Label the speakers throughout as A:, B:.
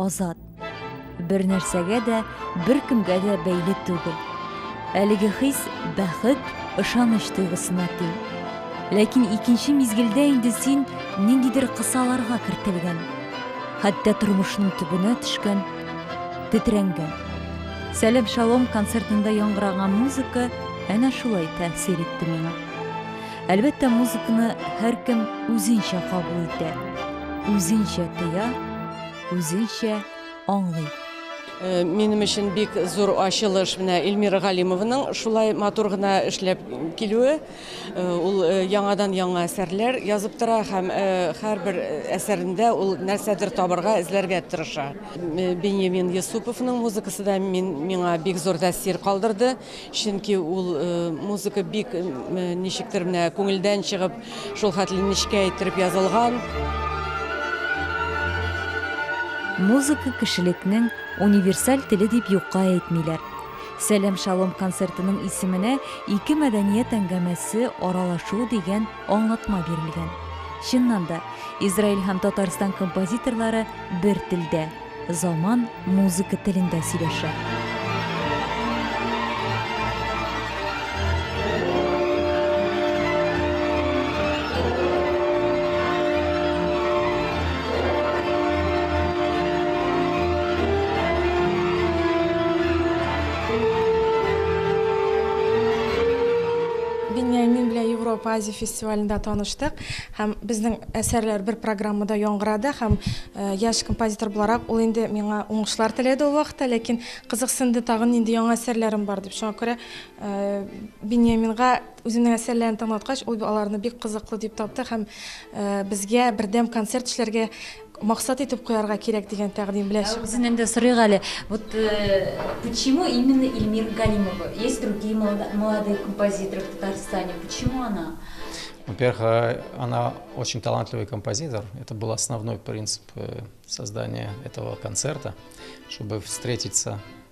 A: азат бер нәрсәгә дә беркемгә дә бәйле түгел әлеге хис бәхет ышаныч тойгысына тиң ләкин икенче мизгелдә инде син ниндидер кысаларга кертелгән Хәтта тормышның төбенә төшкән, тетрәнгән. Сәлем Шалом концертында яңгыраган музыка әнә шулай тәэсир итте миңа. Әлбәттә, музыканы һәркем үзенчә кабул итә, үзенчә тоя, үзенчә аңлый. Э,
B: минем өчен бик зур ачылыш менә Эльмира Галимованың шулай матур гына эшләп килүе. Ул яңадан-яңа әсәрләр язып тора һәм һәрбер әсәрендә ул нәрсәдер табырга, эзләргә тырыша. Беньямин Йосыповның музыкасы да миңа бик зур тәэсир калдырды, чөнки ул музыка бик ничектер менә күңелдән чыгып, шулхәтле нечкә иттереп язылган.
A: Музыка кешелекнең универсаль теле дип юкка әйтмиләр. Сәлам Шалом концертының исеменә ике мәдәният әңгәмәсе, аралашу дигән аңлатма бирелгән. Чыннан да, Израиль һәм Татарстан композиторлары бер телдә, заман музыка телендә сөйләшә.
C: Беньямин белән Европа Азия фестивалендә таныштык һәм безнең әсәрләр бер программада яңгырады һәм яшь композитор буларак ул инде миңа уңышлар теләде ул вакытта, ләкин кызыксынды тагын нинди яңа әсәрләрем бар дип. Шуңа күрә Биньяминга үзенең әсәрләрен тыңлаткач, ул аларны бик кызыклы дип тапты һәм безгә бердәм концерт эшләргә максат итеп куярга кирәк дигән тәкъдим белән чыкты. Үзеннән дә сорыйк әле.
A: Вот почему именно Эльмира Галимова? Есть другие молодые композиторы в Татарстане. Почему она? Во-первых, э,
D: она очень талантливый композитор. Это был основной принцип э, создания этого концерта, чтобы встретиться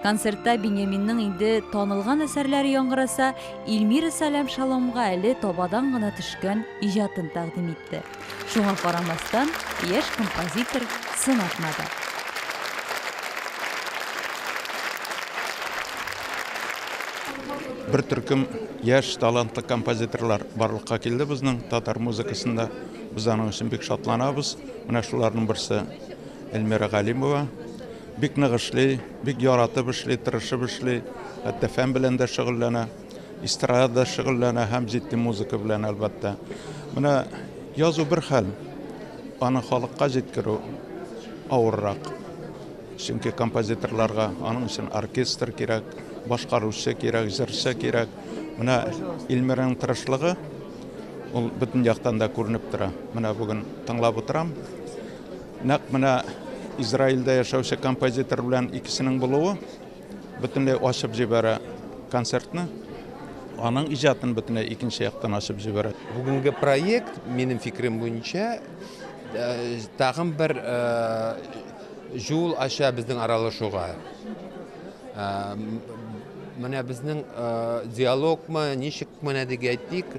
A: Концертта Беньяминның инде танылган әсәрләре яңгыраса, Ильмира Салям Шаломга әле табадан гына төшкән иҗатын тәкъдим итте. Шуңа карамастан, яшь композитор сын атмады.
E: Бер төркем яшь талантлы композиторлар барлыкка килде безнең татар музыкасында. Без аның өчен бик шатланабыз. Менә шуларның берсе Эльмира Галимова. Бик нык эшли, бик яратып эшли, тырышып эшли. Хәтта фән белән дә шөгыльләнә, эстрада да шөгыльләнә һәм җитди музыка белән, әлбәттә. Менә язу бер хәл, аны халыкка җиткерү авыррак. Чөнки композиторларга аның өчен оркестр кирәк, башкаручы кирәк, җырчы кирәк. Менә Илмираның тырышлыгы ул бөтен яктан да күренеп тора. Менә бүген тыңлап утырам. Нәкъ менә Израильдә яшәүче композитор белән икесенең булуы бөтенләй ачып җибәрә концертны. Аның иҗатын бөтенләй икенче яктан ачып җибәрә. Бүгенге проект,
F: минем фикерем буенча, э, тагын бер э, җул ача безнең аралашуга. Э, менә безнең диалогмы, ничек менә дип әйтик,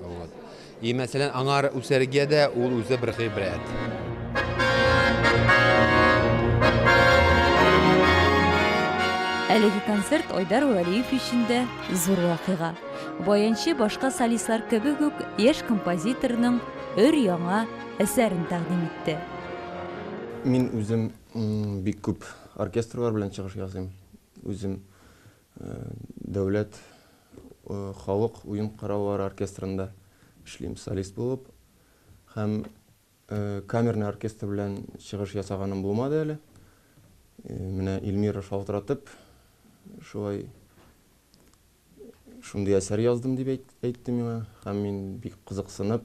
F: Вот. И мәсәлән, аңар үсәргә дә ул үзе бер гыйбрәт.
A: Әлеге концерт Айдар Вәлиев өчен дә зур вакыйга. Баянчы башка солистлар кебек үк яшь композиторның өр яңа әсәрен тәкъдим итте.
G: Мин үзем бик күп оркестрлар белән чыгыш ясыйм. Үзем Дәүләт халык уен кораллары оркестрында эшлим солист булып. Һәм камерный оркестр белән чыгыш ясаганым булмады әле. Менә Ильмира шалтыратып, шулай шундый әсәр яздым дип әйтте миңа. Һәм мин бик кызыксынып.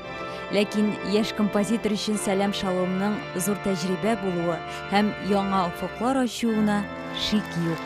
A: Ләкин яшь композитор өчен Сәлам Шаломның зур тәҗрибә булуы һәм яңа офыклар ачуына шик юк.